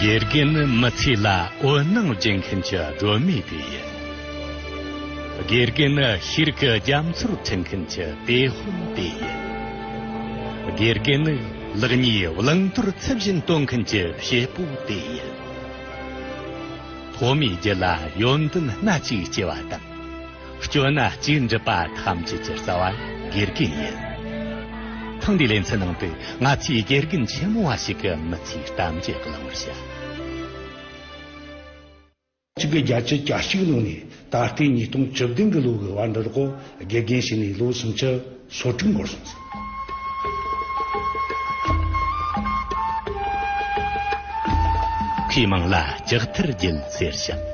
དགེ་རྒན་ནི་མི་ཚེ་ལ་འོད་སྣང་སྦྱིན་མཁན་གྱི་སྒྲོན་མེ་དེ་ཡིན། དགེ་རྒན་ནི་ཤིར་ཀི་རྒྱ་མཚོར་འཕྲེང་མཁན་གྱི་གཏེ་ཧོན་དེ་ཡིན། དགེ་རྒན་ནི་ལག་གཉིས་བླང་དོར་ཚུལ་བཞིན་སྟོན་མཁན་གྱི་བྱེད་པོ་དེ་ཡིན། ཐོག་མའི་རྒྱུད་ལ་ཡོན་ཏན་སྣ་གཅིག་སྐྱེ་བ་དང། སྐྱོ་སྣ་གཅིག་འགྲིབ་པ་ཐམས་ཅད་ཀྱི་རྩ་བ་དགེ་རྒན་ཡིན། ཐེངས་འདིའི་ལེ་ཚན་ནང་དུ་ང་ཚོས་དགེ་རྒན་ཆེན་མོ་བ་ཞིག་གི་མི་ཚེའི་གཏམ་རྒྱུད་བཀླག་མར་བྱ། གཅིག་གི་རྒྱ་ཁྱི་གྱ་གཅིག་ལོན་ནས་ད་ལྟའི་ཉིས་སྟོང་བཅུ་བདུན་གྱི་ལོ་འགའི་བར་འདིར་གོ་དགེ་རྒན་བྱས་ནས་ལོ་སུམ་ཅུ། ཟོར་སྒྲིམ་སྒོར་སོང་ཟིན། ཁོས་མིང་ལ་ལྕགས་མཐིལ་རྒྱལ་ཟེར་ཞིང།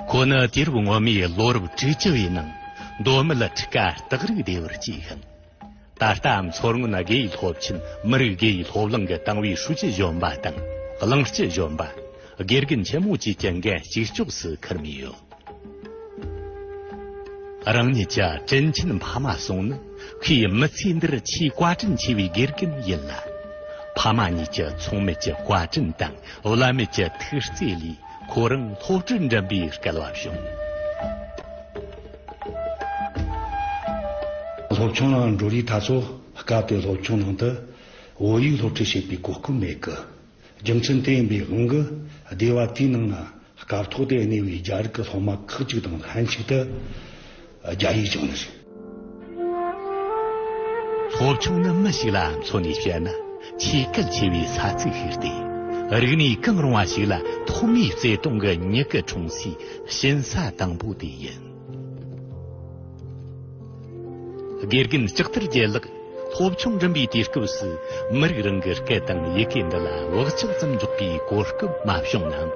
ཁོ་ནི་དུས་རབས་སྔོན་མའི་ལོ་རབས་བཅུ་བཅུ་བའི་ནང་མདོ་སྨད་ལ་ཁྲི་ཀ་སྟག་རིག་སྡེ་བར་སྐྱེས་ཤིང། ད་ལྟའམ་མཚོ་སྔོན་དགེ་སློབ་ཆེན་མི་རིགས་དགེ་སློབ་གླིང་གི་ཏང་ཨུའི་ཧྲུའུ་ཅི་གཞོན་པ་དང་གླིང་སྤྱི་གཞོན་པ། དགེ་རྒན་ཆེན་མོ་བཅས་ཀྱི་འགན་གཅིག་ལྕོགས་སུ་འཁུར་མུས་ཡོད། རང་ཉིད་ཀྱི་དྲིན་ཆེན་ཕ་མ་སོང་ནི་ཁོའི་མི་ཚེ་འདིར་ཆེས་བཀའ་དྲིན་ཆེ་བའི་དགེ་རྒན་ཡིན་ལ། ཕ་མ་གཉིས་ཀྱི་ཚོང་མེད་ཀྱི་བཀའ་དྲིན་དང་བླ་མེད་ཀྱི་ཐུགས་བརྩེ་ལས་ཁོ་རང་སློབ་གྲྭར་འགྲིམ་པའི་སྐལ་བ་བྱུང། སློབ་ཆུང་ནང་འགྲོ་རིགས་ད་ཚོ་སྐབས་དེའི་སློབ་ཆུང་ནང་དུ་བོད་ཡིག་སློབ་ཁྲིད་བྱེད་པའི་གོ་སྐབས་མེད་སྐད། རྒྱུ་མཚན་དེ་ཡིན་པའི་དབང་གིས་སྡེ་བ་དེའི་ནང་ན་སྐབས་ཐོག་ཏུ་གནས་པའི་རྒྱ་རིགས་ཀྱི་སློབ་མ་ཁག་ཅིག་དང་ལྷན་ཅིག་ཏུ་རྒྱ་ཡིག་སྦྱོང་ནི་རེད། སློབ་ཆུང་ནི་མི་ཞིག་ལ་མཚོན་ནས་བཤད་ན་ཆེས་གལ་ཆེ་བའི་ས་ཚིགས་ཤིག་སྟེ། རིག་གནས་གང་རུང་བ་ཞིག་ལ་ཐོག་མའི་བརྩེ་དུང་གི་མྱུ་གུ་འཁྲུངས་སའི་གཤིན་ས་དང་པོ་དེ་ཡིན། དགེ་རྒན་ལྕགས་ཐར་རྒྱལ་ལགས། སློབ་ཆུང་འགྲིམ་པའི་དུས་སྐབས་སུ་མི་རིགས་རང་གི་སྐད་དང་ཡི་གེ་འདི་ལ་བག་ཆགས་ཙམ་འཇོག་པའི་གོ་སྐབས་མ་བྱུང་ནའང།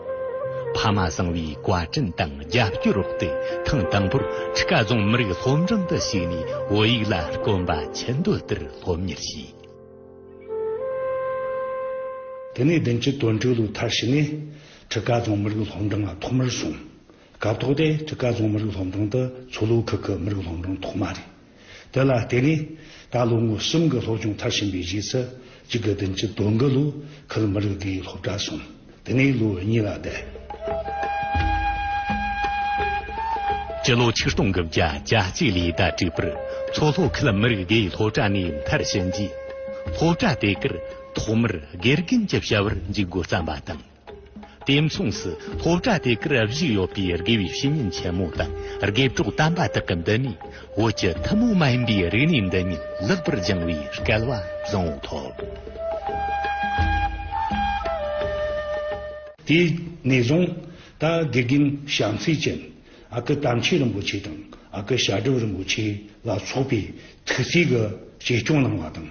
ཕ་མ་བཟང་བའི་བཀའ་དྲིན་དང་རྒྱབ་སྐྱོར་འོག་ཏུ་ཐེངས་དང་པོར་ཁྲི་ཀ་རྫོང་མི་རིགས་སློབ་འབྲིང་དུ་ཞུགས་ནས་བོད་ཡིག་ལ་དཀོན་པ་ཆེ་འདོད་ལྟར་སློབ་གཉེར་བྱས། དེ་ནས་བདུན་གྱི་དོན་དྲུག་ལོའི་མཐར་ཕྱིན་ནས་ཁྲི་ཀ་རྫོང་མི་རིགས་སློབ་འབྲིང་ལ་ཐོག་མར་ཞུགས། སྐབས་ཐོག་དེ་ཁྲི་ཀ་རྫོང་མི་རིགས་སློབ་འབྲིང་དུ་མཚོ་ལྷོ་ཁུལ་གྱི་མི་རིགས་སློབ་འབྲིང་ཐོག་མ་རེད། དེ་ལ་བརྟེན་ནས་ད་ལོ་ངོ་གསུམ་གྱི་སློབ་སྦྱོང་མཐར་ཕྱིན་པའི་རྗེས་སུ་གཅིག་གི་བདུན་གྱི་དོན་དགུ་ལོའི་ཁུལ་མི་རིགས་དེའི་སློབ་གྲྭར་སོང། དེ་ནས་ལོ་གཉིས་ལ་བསྡད། སྤྱི་ལོ་ཆིག་སྟོང་གི་བརྒྱ་ཆ་གཅིག་ལས་ཟླ་དྲུག་པར་མཚོ་ལྷོ་ཁུལ་མི་རིགས་དེའི་སློབ་གྲྭ་ནས་མཐར་ཕྱིན་རྗེས། སློབ་གྲྭ་དེ་གར་ཐོག་མར་དགེ་རྒན་གྱི་བྱ་བར་འཇུག་མགོ་བརྩམས་པ་དང། དེ་མཚུངས་སུ་ལྷོ་བྲག་དེ་གར་བཞུགས་ཡོད་པའི་དགེ་བའི་བཤེས་གཉེན་ཆེན་མོ་དང་དགེ་གྲོགས་དམ་པ་དག་གི་འདི་ནས་བོད་ཀྱི་ཐུན་མོང་མ་ཡིན་པའི་རིག་གནས་འདི་ཉིད་ལེགས་པར་སྦྱང་བའི་སྐལ་བ་བཟང་བོ་ཐོབ། དེ་ནས་བཟུང་ད་དགེ་རྒན་ཞང་ཚེ་ཅན་ཨ་ཀི་དམ་ཆོས་རིན་པོ་ཆེ་དང་ཨ་ཀི་ཞྭ་སྒྲོལ་རིན་པོ་ཆེ་ལ་སོགས་པའི་ཐུགས་བརྩེ་གི་གཅེས་སྐྱོང་གནང་བ་དང།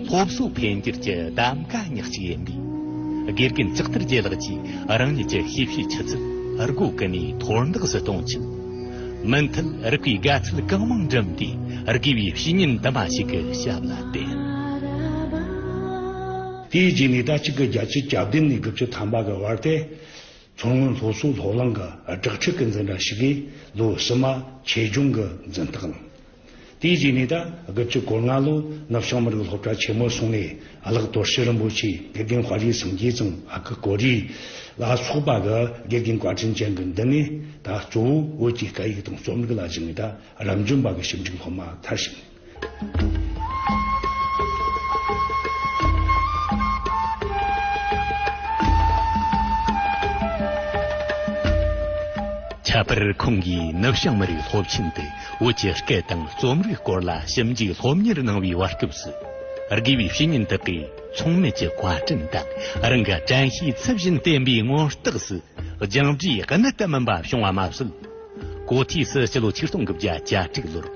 སློབ་གསོ་འཕེལ་འགྱུར་གྱི་གདམ་ག་ཉག་གཅིག་ཡིན་པས། དགེ་རྒན་ལྕགས་ཐར་རྒྱལ་ལགས་ཀྱིས་རང་ཉིད་ཀྱི་ཤེས་བྱའི་ཆུ་ཚད་སྒོ་ཀུན་ནས་མཐོར་འདེགས་སུ་གཏོང་ཆེད། མུ་མཐུད་རིགས་པའི་དགའ་ཚལ་གང་མང་བསྒྲིམས་ཏེ་དགེ་བའི་བཤེས་གཉེན་དུ་མ་ཞིག་གི་ཞབས་ལ་བརྟེན། དེའི་རྗེས་ནས་ཟླ་གཅིག་གི་རྒྱལ་སྤྱིའི་གྱ་བདུན་ནས་དགུ་བཅུ་ཐམ་པ་གི་བར་ཏེ། མཚོ་སྔོན་སློབ་གསོའི་སློབ་གླིང་གི་སྦྲགས་ཆོས་སྐུའི་འཛིན་གྲྭ་ཞིག་གིས་ལོའི་ཕྱི་མ་ཆོས་འབྱུང་གི་འཛིན་སྟེགས་ལངས། དེའི་རྗེས་ནས་ད་སྒབ་ཀྱི་སྐོར་སྔ་ལོ་ནུབ་བྱང་མི་རིགས་སློབ་གྲྭ་ཆེན་མོར་སོང་ནས་གླག་རྡོར་ཤྲི་རིན་པོ་ཆེ་དགེ་རྒན་བྷ་རིའི་སངས་རྒྱས་ཙུང་ཨ་ཁི་གོ་རི་ལ་སོགས་པ་གི་དགེ་རྒན་བཀའ་དྲིན་ཅན་གྱི་མདུན་ནས་ད་གཙོ་བོ་བོད་ཀྱི་སྐད་ཡིག་དང་རྩོམ་རིག་ལ་གཞིགས་ནས་ད་རབ་འབྱམས་པ་གི་ཞིབ་འཇུག་སློབ་མ་མཐར་ཕྱིན། ཁྱད་པར་ཁོང་གིས་ནུབ་བྱང་མི་རིགས་སློབ་ཆེན་དུ་བོད་ཀྱི་སྐད་དང་རྩོམ་རིག་སྐོར་ལ་ཞིབ་འཇུག་སློབ་གཉེར་གནང་བའི་བར་སྐབས་སུ། དགེ་བའི་བཤེས་གཉེན་དག་གིས་ཚོང་མེད་ཀྱི་བཀའ་དྲིན་དང་རང་གི་དྲན་ཤེས་ཚབས་ཆེན་བསྟན་པའི་མངོན་རྟགས་སུ་སྦྱངས་འབྲས་གནད་ལྟ་མིན་པ་བྱུང་བ་མ་ཟད། གོ་ཐོས་སུ་སྤྱི་ལོ་ཆིག་སྟོང་དགུ་བརྒྱ་གྱ་དྲུག་ལོར་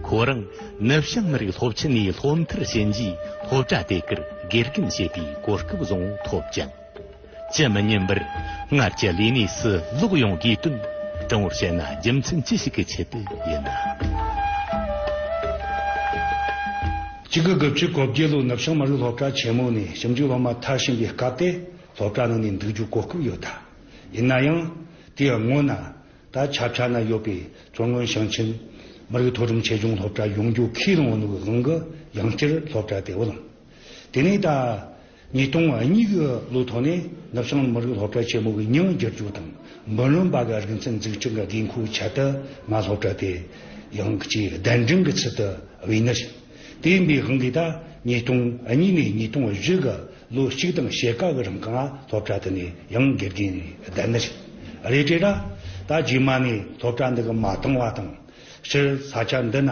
ཁོ་རང་ནུབ་བྱང་མི་རིགས་སློབ་ཆེན་ནས་སློབ་མཐར་ཕྱིན་རྗེས་སློབ་གྲྭ་དེ་གར་དགེ་རྒན་བྱེད་པའི་གོ་སྐབས་བཟང་བོ་ཐོབ་ཅིང། ཅི་མི་སྙམ་པར་སྔར་གྱི་ལས་གནས་སུ་ལོག་ཡོང་དགོས་དོན་དྲང་བོར་བཤད་ན་རྒྱུ་མཚན་ཅི་ཞིག་གི་ཆེད་དུ་ཡིན་ནམ། གཅིག་གི་དགུ་བཅུ་གོ་བརྒྱད་ལོའི་ནུབ་བྱང་མ་རུ་སློབ་གྲྭ་ཆེན་མོ་ནས་ཞིབ་འཇུག་སློབ་མ་ཐར་བཞིན་པའི་སྐབས་དེ་སློབ་གྲྭ་ནང་ནས་འདུག་རྒྱུ་གོ་སྐབས་ཡོད་ཐལ། ཡིན་ན་ཡང་དེའི་སྔོན་ན་ད་ཆ་ཕྱག་ན་ཡོད་པའི་མཚོ་སྔོན་ཞིང་ཆེན་མི་རིགས་མཐོ་རིམ་ཆེད་སྦྱོང་སློབ་གྲྭ་ཡོང་རྒྱུ་ཁས་བླངས་བ་ནུབ་དབང་གི་ཡང་སྤྱིར་སློབ་གྲྭ་དེ་བོ་ལང། དེ་ནས་ད། ཉིས་སྟོང་ང་གཉིས་ཀྱི་ལོའི་ཐོག་ནས་ནུབ་བྱང་མི་རིགས་སློབ་གྲྭ་ཆེན་མོ་གི་ཉིང་བསྒྱུར་བཅོས་དང་འབུམ་རམས་པ་གི་རིག་ཚན་འཛུགས་སྐྱོང་གི་དགོས་མཁོའི་ཆེད་དུ་ང་སློབ་གྲྭ་དེ་ཡང་གཅིག་གདན་འདྲེན་གྱི་ཚུལ་དུ་དབུས་ནས་ཕྱིན། དེའི་འབའ་ཧང་གིས་ད་ཉིས་སྟོང་ང་གཉིས་ནས་ཉིས་སྟོང་ང་བཞི་གི་ལོ་གཅིག་དང་ཕྱེད་ཀ་གི་རིང་གི་ང་སློབ་གྲྭ་དེ་ནས་ཡང་དགེ་རྒན་ནས་གདན་ནས་ཕྱིན། རེད་དྲན་ར། ད་རྗེས་མ་ནས་སློབ་གྲྭ་འདི་གི་མ་བཏང་བ་དང། སྤྱིར་ས་ཆ་འདི་ན།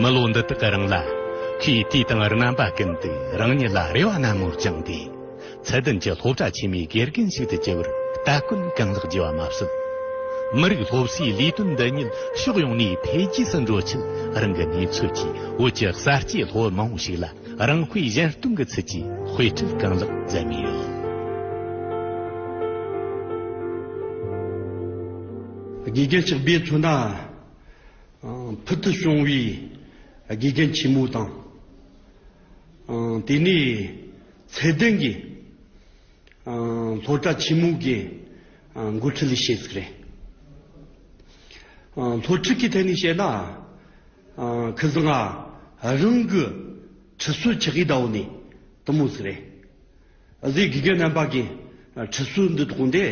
མི་ལོ་འདི་དག་གི་རིང་ལ། ཁོས་དུས་དང་རྣམ་པ་ཀུན་ཏུ་རང་ཉིད་ལ་རེ་བ་སྣ་མོར་བཅངས་ཏེ། ཚད་ལྡན་གྱི་སློབ་གྲྭ་ཆེན་མོའི་དགེ་རྒན་ཞིག་ཏུ་གྱུར་བར་སྟ་གོན་རྐང་ལག་བགྱི་བ་མ་ཟད། མི་རིགས་སློབ་གསོའི་ལས་དོན་འདི་ཉིད་ཕྱོགས་ཡོངས་ནས་འཕེལ་རྒྱས་སུ་འགྲོ་ཆེད་རང་གི་ནུས་ཚོད་ཀྱིས་བོད་ཀྱི་གསར་སྐྱེས་སློབ་མ་མང་པོ་ཞིག་ལ་རང་དཔེ་གཞན་སྟོན་གྱི་ཚུལ་གྱིས་དཔེ་ཁྲིད་རྐང་ལག་མཛད་མུས་ཡོད། དགེ་རྒན་གཅིག་སྦས་མཚོན་དང། ཕུལ་དུ་བྱུང་བའི་དགེ་རྒན་ཆེན་མོ་དང། དེ་ནས་ཚད་ལྡན་གྱི་སློབ་གྲྭ་ཆེན་མོའི་གི་འགོ་ཁྲིད་བྱེད་ཟིག་རེད། སློབ་ཁྲིད་ཀྱི་ཐད་ནས་བཤད་ན། ཁི་ཟི་ང་རང་གི་ཁྲི་སུ་ཆི་ཧི་ཏའོ་ནི་དུ་མོ་ཟིག་རེད། གཟིགས་དགེ་རྒན་རྣམ་པ་གི་ཁྲི་སུ་འདི་ཐོག་འདི།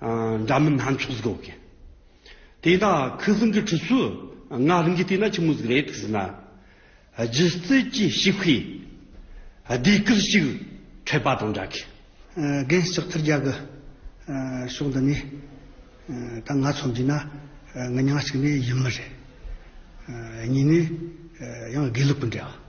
འདྲ་མིན་སྣ་ཚོགས་ཟིག་འོག་གི། དེ་ན་ཁུ་སིམ་གྱི་ཁྲི་ཚོས་ངག་ལིང་གི་དེ་ན་ཆི་མོ་ཟིག་རེད་ཐུག་ཟིན་ན། སྒྱུ་རྩལ་གྱི་ཤི་བྷི། སྡེ་དཀར་ཞིག་འཕྲད་པ་དང་འདྲ་གི། རྒན་ལྕགས་ཐར་རྒྱ་གི་ཕྱོགས་འདི་ནས་ད་ང་ཚོ་འདི་ན་ངི་ཉག་ཅིག་ནི་ཡིན་མི་རེད། གཉིས་ནི་ཡང་དགེ་ལུགས་པི་འདྲ་བ།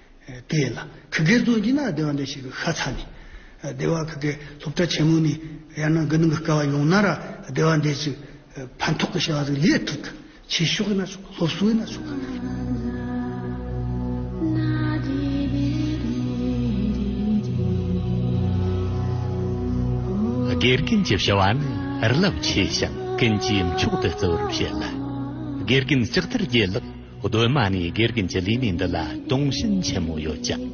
དེ་ལ་གུ་གེའི་རྫོང་གི་ན་སྡེ་བ་འདྲེ་ཞིག་གི་ཤ་ཚ་ནི། སྡེ་བ་གུ་གེའི་སློབ་གྲྭ་ཆེན་མོ་ནི་ཡར་ནང་དགུ་ནང་གི་སྐལ་བ་ཡོང་ན་ར་སྡེ་བ་འདྲེ་ཅིག་ཕན་ཐོགས་ཀྱི་ཤ་བ་ཟིག་ལས་ཐུག་གི་ཆེ་ཤོག་ཡིན་ན་ཆོག་སློབ་གསོ་ཡིན་ན་ཆོག། དགེ་རྒན་གྱི་བྱ་བ་ནི་རླབས་ཆེ་ཞིང་ཀུན་གྱིས་མཆོག་ཏུ་བརྩི་བར་བྱེད་ལ། དགེ་རྒན་ལྕགས་ཐར་རྒྱལ་ལགས་གདོད་མ་ནས་དགེ་རྒན་གྱི་ལས་གནས་འདི་ལ་དུང་ཞེན་ཆེན་མོ་ཡོད་ཀྱང།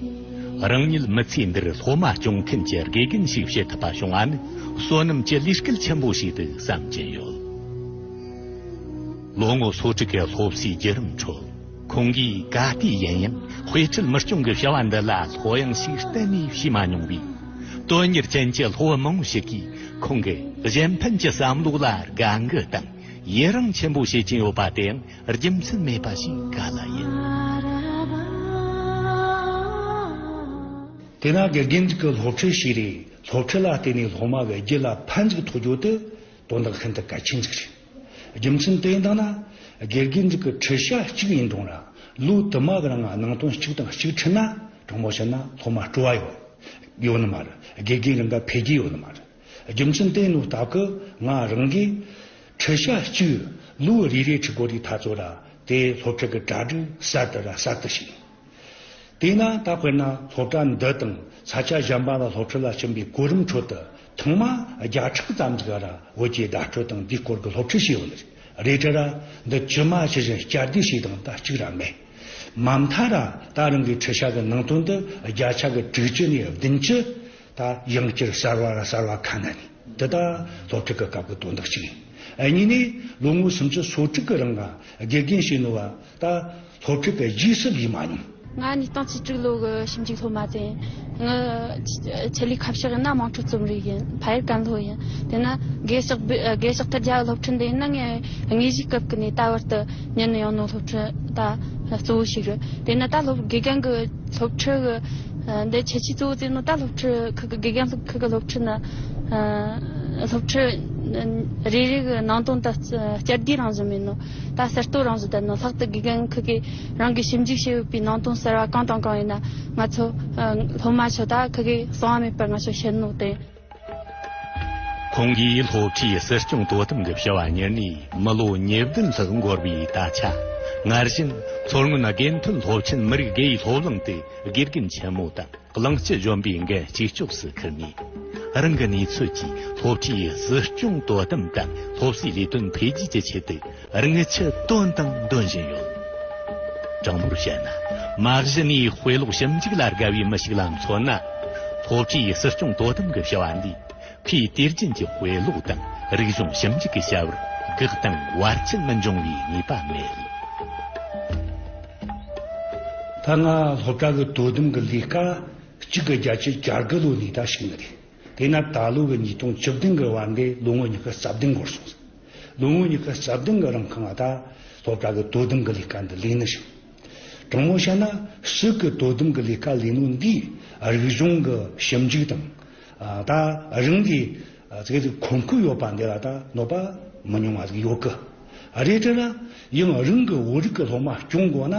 རང་ཉིད་མི་ཚེ་འདིར་སློབ་མ་སྐྱོང་མཁན་གྱི་དགེ་རྒན་ཞིག་བྱེད་ཐུབ་པ་བྱུང་བ་ནི་བསོད་ནམས་ཀྱི་ལས་སྐལ་ཆེན་པོ་ཞིག་ཏུ་བསམ་གྱིན་ཡོད། ལོ་ངོ་སོ་དྲུག་གི་སློབ་གསོའི་བརྒྱུད་རིམ་ཁྲོད་ཁོང་གིས་ག་དུས་ཡིན་ཡང་དཔེ་ཁྲིད་མི་སྐྱོང་གི་བྱ་བ་འདི་ལ་ལྷོད་ཡངས་ཤིག་གཏན་ནས་བྱས་མ་མྱོང་བས། དོན་གཉེར་ཅན་གྱི་སློབ་མ་མང་པོ་ཞིག་གིས་ཁོང་གི་གཞན་ཕན་གྱི་བསམ་བློ་ལ་དགའ་འགུལ་དང་ཡི་རངས་ཆེན་པོ་བྱེད་ཀྱིན་ཡོད་པ་དེའང་རྒྱུ་མཚན་མེད་པ་ཞིག་ག་ལ་ཡིན། དེ་ན་དགེ་རྒན་གྱི་སློབ་ཁྲིད་ཞིག་རེད་སློབ་ཁྲིད་ལ་བརྟེན་ནས་སློབ་མ་བས་རྒྱུད་ལ་ཕན་ཅིག་ཐོགས་རྒྱུ་དེ་དོན་དག་ཤིན་ཏུ་གལ་ཆེན་ཅིག་རེད། རྒྱུ་མཚན་དེ་ཡིན་དག་ན་དགེ་རྒན་གྱི་ཁྲིད་བྱ་གཅིག་ཡིན་རུང་རང་ལུས་དུ་མ་གི་ནང་སྣང་དོན་གཅིག་དང་གཅིག་འཁྲིད་ན་དྲང་མོ་བཤད་ན་སློབ་མ་སྤྲོ་བ་ཡོད་ཡོད་ནི་མ་རེད་དགེ་རྒན་རང་ག་འཕེལ་རྒྱས་ཡོད་ནི་མ་རེད། རྒྱུ་མཚན་དེ་ནུ་རྟགས་ཀྱི་ང་རང་གིས། ཁྲི་ཞག་གཅིག་ལུའུ་རི་རའི་ཁྲི་སྒོ་རི་ཐ་ཚོ་ར་དེ་སློབ་གྲྭ་གི་གྲ་སྒྲིག་གསར་དུ་ར་གསར་དུ་ཕྱིན། དེས་ན་ད་དཔེར་ན་སློབ་གྲྭ་འདི་དང་ས་ཆ་གཞན་པ་ལ་སློབ་ཁྲིད་ལ་ཕྱིན་པའི་གོ་རིམ་ཁྲོད་དུ་ཐེངས་མ་བརྒྱ་ཕྲག་ཙམ་གྱི་ར་བོད་ཀྱི་བརྡ་སྤྲོད་དང་དེའི་སྐོར་གྱི་སློབ་ཁྲིད་བྱས་ཡོད། རེད་དྲ་ར་འདི་ཇི་མ་ཇི་བཞིན་བསྐྱར་ཟློས་བྱས་དང་ད་གཅིག་ར་མེད། མ་མཐའ་ར་ད་རང་གི་ཁྲི་ཞག་གི་ནང་དོན་འདི་བརྒྱ་ཆ་གི་དྲུག་ཅུ་ནས་བདུན་ཅུ། ད་དབྱིན་སྐྱུར་གསར་བ་ལ་གསར་བ་ཁ་ན་ནི་འདི་དག་སློབ་ཕྲུག་གི་སྐབས་ཀྱི་དོན་དག་ཅིག་ཡིན། གཉིས་ནས་ལོ་ངོ་སུམ་ཅུ་སོ་དྲུག་གི་རིང་ལ་དགེ་རྒན་ཞིག་ནོར་བ་ད་སློབ་ཕྲུག་གི་རྗེས་སུ་ལུས་མ་མྱོང། ང་ནི་སྟོང་ཚོ་དྲུག་ལོ་གི་ཞིབ་འཇུག་སློབ་མ་དེ་ཡིན། ངའི་ཆེད་ལས་ཁ་བཤགས་ཡིན་ན་དམངས་ཁྲོད་རྩོམ་རིག་ཡིན། ཕ་ཡུལ་ཀན་ལྷོ་ཡིན། དེ་ནི་དགེ་བཤེགས་ཐེར་རྒྱ་ཡི་སློབ་ཁྲིད་འདི་ཡིན་ན་ངའི་དངོས་གཞིའི་སྐབས་ཀྱི་ནས་ད་བར་དུ་ཉན་ཡོང་ནོར་སློབ་ཁྲིད་ད་གཙོ་བོ་ཞིག་རེད། དེ་ནི་ད་སློབ་དགེ་རྒན་གྱི་སློབ་ཁྲིད་ཀྱི། འདི་ཁྱེད་ཀྱི་གཙོ་བོ་ཙེ་ནོ་ཏཱ་སློབ་ཁྲིད་ཁུལ་གྱི་དགེ་རྒན་སློབ་ཁུལ་གྱི་སློབ་ཁྲིད་ནི། སློབ་ཁྲིད་རེ་རེ་གི་ནང་དོན་ལྟར་བསྐྱར་ཟློས་རང་བཞིན་མིན་ནོ། ད་གསར་གཏོད་རང་བཞིན་ལྟར་ན་ལྷག་ཏུ་དགེ་རྒན་ཁུལ་གྱིས་རང་གིས་ཞིབ་འཇུག་བྱེད་འོས་པའི་ནང་དོན་གསར་བ་གང་དང་གང་ཡིན་ན་ང་ཚོ་སློབ་མ་ཚོ་དག་ཁུལ་གྱིས་གསང་བ་མེད་པར་ང་ཚོར་ཤེས་རྣོ་དང། ཁོང་གིས་སློབ་གྲྭའི་སྲིད་སྐྱོང་དོ་དམ་གྱི་བྱ་བ་གཉེར་ནས་མི་ལོ་ཉེར་བདུན་ལྷག་འགོར་བའི་ད་ཆ་སྔར་བཞིན་མཚོ་སྔོན་དགེ་མཐུན་སློབ་ཆེན་མི་རིགས་དགེ་ཡི་སློབ་གླིང་དུ་དགེ་རྒན་ཆེན་མོ་དང་གླིང་སྤྱི་གཞོན་པའི་འགན་གཅིག་ལྕོགས་སུ་ཁུར་ནས་རང་གི་ནུས་ཚོད་ཀྱིས་སློབ་གྲྭའི་སྲིད་སྐྱོང་དོ་དམ་དང་སློབ་གསོའི་ལས་དོན་འཕེལ་རྒྱས་ཀྱི་ཆེད་དུ་རིག་ཆུ་བཏོན་དང་འདོན་བཞིན་ཡོད། དྲང་མོར་བཤད་ན་མ་གཞི་ནས་དཔེ་ཀློག་ཞིབ་འཇུག་ལ་དགའ་བའི་མི་ཞིག་ལ་མཚོན་ན། སློབ་གྲྭའི་སྲིད་སྐྱོང་དོ་དམ་གྱི་བྱ་བ་འདིས་ཁོས་དུས་རྒྱུན་གྱི་དཔེ་ཀློག་དང་རིག་གཞུང་ཞིབ་འཇུག་གི་བྱ་བར་དགག་དང་བར་ཆད་མི་འབྱུང་བའི་ངེས་པ་མེད། ད་སྔ་སློབ་གྲྭ་གི་དོ་དམ་གྱི་ལས་ཀ་གཅིག་གི་རྒྱ་ཆེ་བསྐྱར་དགུ་ལོ་ནས་ད་ཕྱིན་མི་རེད། དེས་ན་ད་ལོ་གི་ཉིས་སྟོང་བཅུ་བདུན་གྱི་བར་འདས་ལོ་ངོ་གཉིས་ཀྱི་རྩ་བདུན་འགོར་སོང་ཟིན། ལོ་ངོ་གཉིས་ཀ་རྩྭ་གདང་གི་རང་ཁང་བ་དང་སློབ་གྲྭ་གི་དོ་དམ་གི་ལས་ཀ་འདི་ལས་ནི་ཞིང། དྲང་མོར་བཤད་ན་སྲིད་གི་དོ་དམ་གི་ལས་ཀ་ལས་ནོ་འདིས་རིག་གཞུང་གི་ཞིབ་འཇུག་དང། ད་རིང་གི་ཚིག་རིས་གོང་འཁོད་ཡོད་པ་འདི་ལ་ད་གནོད་པ་མི་ཉུང་བ་ཟིག་ཡོད་ཀི་རེད་དྲན་ན་ཡང་རང་གི་བོད་རིགས་ཀྱི་སློབ་མ་སྐྱོང་དགོས་ན་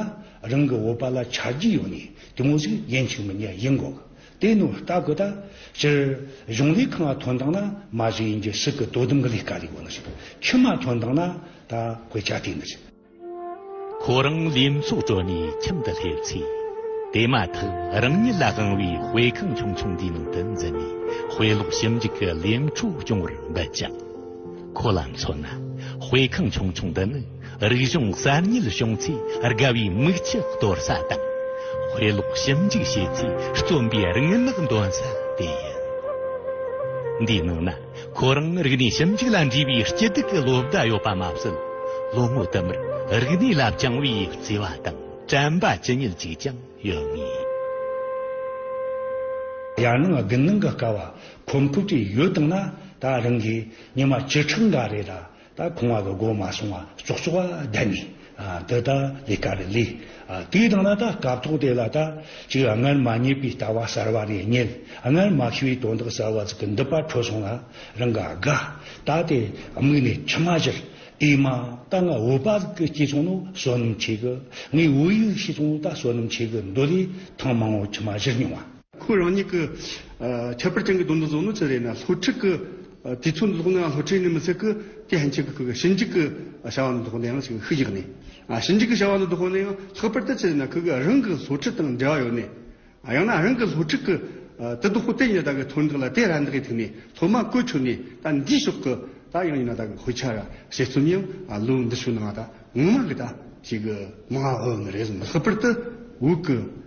རང་གི་བོད་པ་ལ་ཆ་རྒྱུས་ཡོད་ནས་དེ་མོ་ཟིག་ཡིན་ཆིག་མི་ཉན་ཡིན་དགོས་ཀི། དེའི་ནུ་བ་ལྟ་གོ་ད། སྤྱིར། གཞུང་ལས་ཁང་བ་དོན་དང་ན་མ་ཞིག་ཡིན་གྱི་སི་ཀི་དོ་དམ་གི་ལས་ཀ་ལས་གོ་ན་ཞིག་དང་ཁྱི་མ་དོན་དང་ན་ད་གོས་ཅག་དེ་ནི། ཁོ་རང་ལས་མཚོ་བྲོ་ནས་ཁྱིམ་དུ་སླེབས་ཚེ། དེ་མ་ཐག་རང་ཉིད་ལ་དབང་བའི་དཔེ་ཁང་ཆུང་ཆུང་དེའི་ནང་དུ་འཛུལ་ནས་དཔེ་ཀློག་ཞིབ་འཇུག་གི་ལས་འཕྲོ་སྐྱོང་བར་འབད་ཅིང། ཁོ་ལ་མཚོན་ན་དཔེ་ཁང་ཆུང་ཆུང་འདི་ནི་རིག་གཞུང་གསར་རྙེད་བྱུང་ཚེ་དགའ་བའི་མིག་ཆུ་གཏོར་ས་དང། དཔེ་ཀློག་ཞིབ་འཇུག་བྱེད་ཚེ་རྩོམ་པའི་རིག་སྔགས་འདོན་ས་དེ་ཡིན། འདིའི་ནང་ན་ཁོ་རང་རིག་གནས་ཞིབ་འཇུག་ལ་འདྲིས་པའི་སྐྱིད་སྡུག་གི་ལོ་ཟླ་ཡོད་པ་མ་ཟད། ལོ་ངོ་དུ་མར་རིག་གནས་ལ་བཅངས་བའི་བརྩེ་བ་དང་དྲན་པ་ཇི་སྙེད་ཅིག་ཀྱང་ཡོད་ངེས། ཡར་སྣང་དགུན་སྣང་གི་སྐལ་བ་ཁོམ་ཕུག་ཅིག་ཡོད་བཏང་ན་ད་རང་གིས་ཉི་མ་བཅུ་ཕྲག་འགའ་རེ་ལ་ད་ཁང་བ་གི་སྒོ་མ་སོང་བ་ཙོག་ཙོག་བ་བསྡད་ནས་འདི་ད་ལས་ཀ་རེ་ལས་དུས་བཏང་ན་ད་སྐབས་ཐོག་དེ་ལ་ད་ཅིག་སྔར་མ་རྙེད་པའི་ལྟ་བ་གསར་བ་རེ་རྙེད་སྔར་མ་ཤེས་པའི་དོན་དག་གསར་བ་ཅིག་གི་འདི་པར་འཕྲོད་སོང་ལ་རང་གི་དགའ་ད་དེ་དམིགས་ནས་ཕྱི་མ་བཞིར་དེ་མ་ད་ང་འོད་པ་གི་སྐྱེས་ཚོང་ནོ་བསོད་ནམས་ཆེ་གི་ངའི་འོད་ཡིག་ཤེས་ཚོང་ད་བསོད་ནམས་ཆེ་གི་འདོད་ལས་ཐང་མང་བོ་ཕྱི་མ་བཞིར་མྱོང་བ། ཁོས་རང་ཉིད་ཀྱི་ཁྱད་པར་ཅན་གྱི་དོན་དུ་བཟོ་ནི་ཅི་རེད་ན་ལྷོ་ཁྲིད་ཀྱི་དུས་ཚོད་འདི་ལྷོ་ནའང་ལྷོ་ཁྲིད་ནི་མི་ཚད་ཀྱི་དེ་ཧན་ཆིག་གི་ཞི་འཇིག་གི་བྱ་བ་འདི་ལྷོ་ནའང་ཞིག་ཤུགས་རྒྱག་ནས། ཞི་འཇིག་གི་བྱ་བ་འདི་ལྷོ་ནའང་ལྷག་པར་དུ་ཅི་རེད་ན་ཁོས་གི་རང་གི་ལྷོ་ཁྲིད་དང་འབྲེལ་བ་ཡོད་ནས། ཡང་ན་རང་གི་ལྷོ་ཁྲིད་ཀྱི་དེ་དུ་ཧོ་ཏེ་ཉི་ད་གི་ཐོན་འདེགས་ལ་དེ་ར་འདི་གི་ཐིག་ནས་ལྷོ་མ་ཀོས་ཁྱོད་ནས་ད་འདིའི་ཕྱོགས་གི་ད་ཡང་ཉི་ན་ད་གི་ཧོས་ཆ་ར་བྱེད་རྩོམ་ཡང་ལོ་འདི་ཕྱོགས་ནའང་ད་ངོ་མ་གི་ད་ཞིག་གི་མ་འོས་ནི་རེད་བཟུང་ལྷག་པར་དུ་འུག་གི།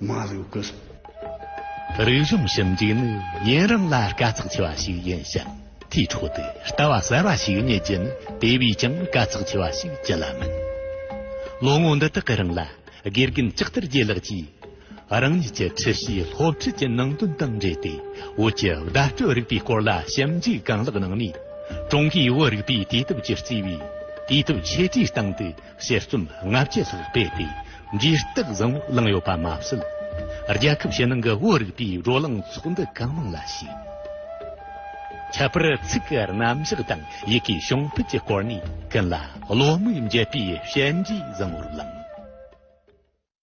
མ་རུ་ཀུ། རིག་གཞུང་ཞིབ་འཇུག་ནི་ཡུན་རིང་ལ་དཀའ་ཚེགས་ཆེ་བ་ཞིག་ཡིན་ཞིང་དེའི་འཕྲོ་དུ་ལྟ་བ་གསར་བ་ཞིག་རྙེད་རྒྱུ་ནི་དེ་བས་ཀྱང་དཀའ་ཚེགས་ཆེ་བ་ཞིག་ཅི་ལ་མིན། ལོ་ངོ་འདི་དག་གི་རིང་ལ་དགེ་རྒན་ལྕགས་ཐར་རྒྱལ་ལགས་ཀྱིས་རང་ཉིད་ཀྱི་འཁྲི་ཤིས་སློབ་ཁྲིད་ཀྱི་ནང་དོན་དང་འབྲེལ་ཏེ་བོད་ཀྱི་བརྡ་སྤྲོད་རིག་པའི་སྐོར་ལ་ཞིབ་འཇུག་གང་ལེགས་གནང་ནས་ཀྲུང་གོའི་བོད་རིག་པའི་དུས་དེབ་ཀྱི་གཙོས་པའི་དུས་དེབ་ཆེ་གྲས་སྟེང་དུ་དཔྱད་རྩོམ་ལྔ་བཅུ་ལྷག་སྤེལ་ཏེ་ཇུས་གཏོགས་བཟང་བོ་བླངས་ཡོད་པ་མ་ཟད། རྒྱལ་ཁབ་ཕྱི་ནང་གི་བོད་རིག་པའི་བགྲོ་གླེང་ཚོགས་འདུ་གང་མང་ལ་ཞུགས། ཁྱད་པར་ཚིག་གི་རྣམ་གཞག་དང་ཡི་གེའི་བྱུང་འཕེལ་གྱི་སྐོར་ནས་ཀུན་ལ་བློ་མིག་འབྱེད་པའི་བཤད་འབྲས་བཟང་བོར་བླངས།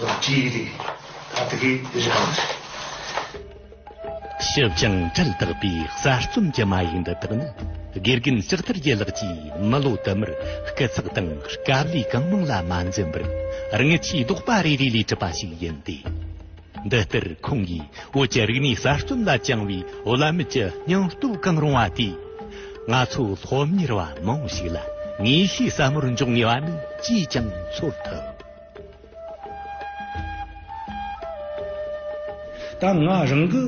ལག་བྲིས་ཡི་རིགས་ད་ལྟ་གི་རིགས་གང་རེད། ཞི་བྱང་གྲལ་དག་པའི་གསར་རྩོམ་གྱི་མ་ཡིག་འདི་དག་ནི་དགེ་རྒན་ལྕགས་ཐར་རྒྱལ་ལགས་ཀྱིས་མི་ལོ་དུ་མར་སྐད་ཚགས་དང་སྐབས་ལས་གང་མང་ལ་མ་འཛེམས་པར་རྔུལ་ཆུའི་རྡོག་པ་རེ་རེ་ལས་གྲུབ་པ་ཞིག་ཡིན་ཏེ། འདི་ལྟར་ཁོང་གིས་བོད་ཀྱི་རིག་གནས་གསར་རྩོམ་ལ་བཅངས་བའི་བླ་མེད་ཀྱི་སྙིང་སྟོབས་གང་རུང་བ་དེས། ང་ཚོ་སློབ་གཉེར་བ་མང་པོ་ཞིག་ལ་ངེས་ཤེས་ཟབ་མོར་འཇོག་ངེས་པ་ནི་ཅིས་ཀྱང་ཚོར་ཐུབ། ད་ང་རང་གི་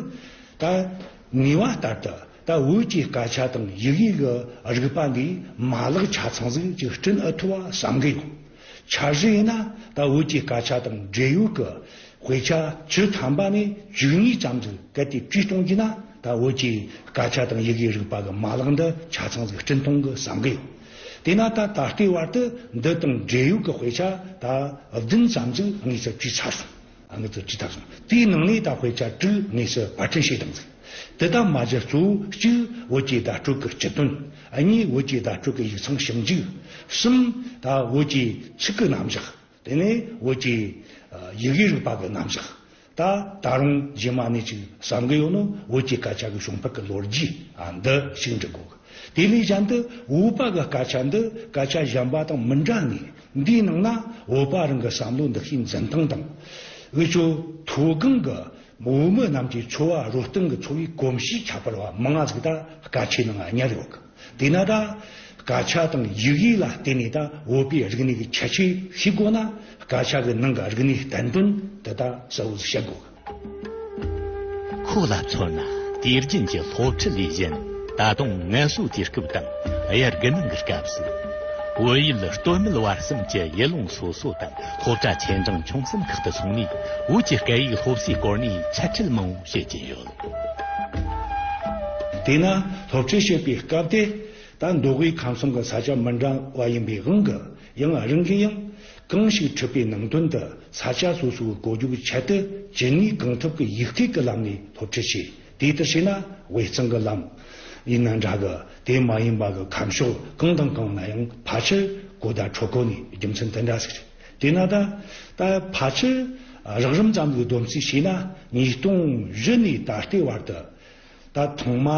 ད་ངེས་བ་ལྟར་དུ་ད་བོད་ཀྱི་སྐད་ཆ་དང་ཡིག་ཡིག་གི་རིག་པ་འདིའི་མ་ལག་ཆ་ཚང་ཟིག་ཅིག་བསྐྲུན་ཨི་ཐུབ་བ་བསམ་གི་ཡོད། འཆར་གཞི་ཡིན་ན་ད་བོད་ཀྱི་སྐད་ཆ་དང་འབྲེལ་ཡོད་ཀྱི་དཔེ་ཆ་ཆུ་ཐམ་པ་ནས་བཅུ་གཉིས་ཙམ་ཟིག་གལ་ཏེ་བྲིས་གཏོང་གྱིན་ན་ད་བོད་ཀྱི་སྐད་ཆ་དང་ཡིག་ཡིག་རིག་པ་གི་མ་ལག་འདི་ཆ་ཚང་ཟིག་བསྐྲུན་གཏོང་གི་བསམ་གི་ཡོད། དེས་ན་ད་ད་ལྟའི་བར་དུ་འདི་དང་འབྲེལ་ཡོད་ཀྱི་དཔེ་ཆ་ད་བདུན་ཙམ་ཅིག་ངས་ཚོད་བགྱིས་ཚར་སོང། ངས་ཚོད་བགྱིས་ཚར་སོང། དེའི་ནང་ནས་ད་དཔེ་ཆ་དྲུག་ངས་སུ་བར་འཕྲིན་བྱས་གཏང་ཟིན། དེ་དག་མ་གཞི་གཙོ་བོ་གཅིག་བོད་ཀྱི་བརྡ་སྤྲོད་ཀྱི་སྤྱི་དོན། གཉིས་བོད་ཀྱི་བརྡ་སྤྲོད་ཀྱི་ཡིག་ཚང་ཞིབ་འཇུག། གསུམ། ད་བོད་ཀྱི་ཚིག་གི་རྣམ་གཞག། དེ་ནས་འོད་ཀྱི། ཡི་གེའི་རིགས་དཔག་གི་རྣམ་གཞག། ད་ད་རུང་རྗེས་མ་ནས་ཅིག་བསམ་གི་ཡོད་ནོ་འོད་ཀྱི་སྐད་ཆ་གི་བྱུང་འཕེལ་གི་ལོ་རྒྱུས་འདི་ཞིག་འབྲི་དགོས། དེ་ལས་གཞན་དུ་འོད་དཔག་གི་སྐད་ཆ་འདི་སྐད་ཆ་གཞན་པ་དང་མི་འདྲ་ངེས། འདིའི་ནང་ན་འོད་དཔག་རང་གི་བསམ་བློ་འདི་ཤིང་འཛིན་སྟངས་དང། འོད་ཆོས་མཐོ་སྒང་གི་བོད་མི་རྣམས་ཀྱི་འཚོ་བ་རོལ་སྟངས་ཀྱི་འཚོ་བའི་གོམས་གཤིས་ཁྱད་པར་བ་མང་བ་ཞིག་ད་སྐད་ཆའི་ནང་ཉར་ཡོད། དེས་ན་དང། དགག་བྱ་དང་ཡིག་ཡིག་ལ་བརྟེན་ནས་དང་འོས་པའི་རིག་གནས་ཀྱི་ཁྱད་ཆོས་ཤིག་དགོས་ན། དགག་བྱ་གི་ནང་གི་རིག་གནས་བསྟན་དོན་དེ་དག་གསལ་བོར་བཤད་དགོས། ཁོ་ལ་མཚོན་ན་དུས་རྒྱུན་གྱི་སློབ་ཁྲིད་ལས་གཞན་ད་དུང་ངལ་གསོའི་དུས་སྐབས་དང་དབྱར་དགུན་གནང་གི་སྐབས་སུ། བོད་ཡུལ་སྟོད་སྨད་བར་གསུམ་གྱི་ཡུལ་ལུང་སོ་སོ་དང་སློབ་གྲྭ་ཆེ་འབྲིང་ཆུང་གསུམ་ཁག་ཏུ་སོང་ནས་བོད་ཀྱི་སྐད་ཡིག་སློབ་གསོའི་སྐོར་ནས་འཆད་ཁྲིད་མང་བོ་བྱེད་ཀྱིན་ཡོད། དེས་ན་སློབ་ཁྲིད་བྱེད་པའི་སྐབས་དེ་ལྟར་མདོ་དབུས་ཁམས་གསུམ་གྱི་ས་ཆ་མི་འདྲ་བ་ཡིན་པའི་དབང་གིས་ཡང་རང་གི་ཡང་གང་ཞིག་ཁྲིད་པའི་ནང་དོན་དུ་ས་ཆ་སོ་སོའི་གོ་རྒྱུགས་ཁྱད་དུ་གྱིས་ནས་གང་ཐུབ་ཀྱི་ཡིག་ཐེག་གི་ལམ་ནས་སློབ་ཁྲིད་བྱེད་དེ་ལྟར་བྱས་ན་དབུས་གཙང་གི་ལམ་ཡིན་ན་འདྲ་གི་དེ་མ་ཡིན་པ་གི་ཁམས་ཕྱོགས་གང་དང་གང་ན་ཡང་ཕལ་ཆེར་གོ་བརྡ་འཕྲོད་གོ་ནས་རྒྱུ་མཚན་དེ་འདྲ་ཞིག་རེད། དེས་ན་ད་ལྟ་ཕལ་ཆེར་རགས་རིམ་ཙམ་གྱི་སྡོམ་ཚིག་བྱས་ན་ཉིས་སྟོང་བཞི་ནས་ད་ལྟའི་བར་དུ་ད་ཐོག་མ་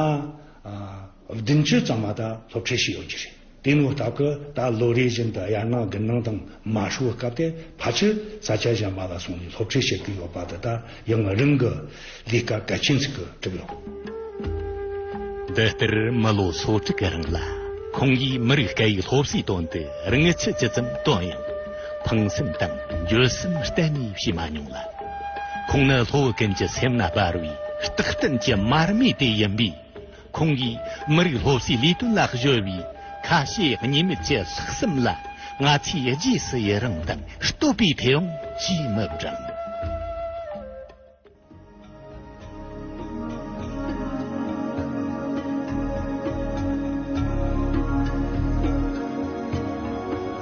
བདུན་ཅུ་ཙམ་མ་དག་སློབ་ཁྲིད་བྱས་ཡོད་ཀྱི་རེད། དེ་སྔོན་ལྟ་བུ་ད་ལོ་རེ་བཞིན་དུ་ཡར་སྔགས་དགུན་སྣང་དང་མ་ཧྲུལ་བོ་སྐབས་དེ་ཕལ་ཆེར་ས་སྐྱ་གཞན་པ་ལ་སོང་ནས་སློབ་ཁྲིད་བྱེད་ཀྱི་ཡོད་པ་དེ་དག་ཡང་ང་རང་གི་ལས་ཀ་གལ་ཆེན་ཟིག་གི་གྲུབ་ཡོང། འདི་ལྟར་མི་ལོ་སོ་དྲུག་རིང་ལ་ཁོང་གིས་མི་རིགས་སྐད་ཡིག་སློབ་གསོའི་དོན་དུ་རང་ཆེ་ཇི་ཙམ་བཏོན་ཡང་ཕངས་སེམས་དང་འགྱོད་སེམས་གཏན་ནས་བྱེད་མ་མྱོང་ལ། ཁོང་ནི་ལྷོ་ཀན་གྱི་སེམས་ན་སྦར་བའི་རྟག་བརྟན་གྱི་མར་མེ་དེ་ཡིན་པས། ཁོང་གིས་མི་རིགས་སློབ་གསོའི་ལས་དོན་ལ་གཞོལ་བའི་ཁ་ཞེ་གཉིས་མེད་ཀྱི་ལྷག་བསམ་ལ་ང་ཚོས་རྗེས་སུ་ཡི་རངས་དང་བསྟོད་པའི་མཐེ་བོང་ཅིས་མི་བསྒྲེང།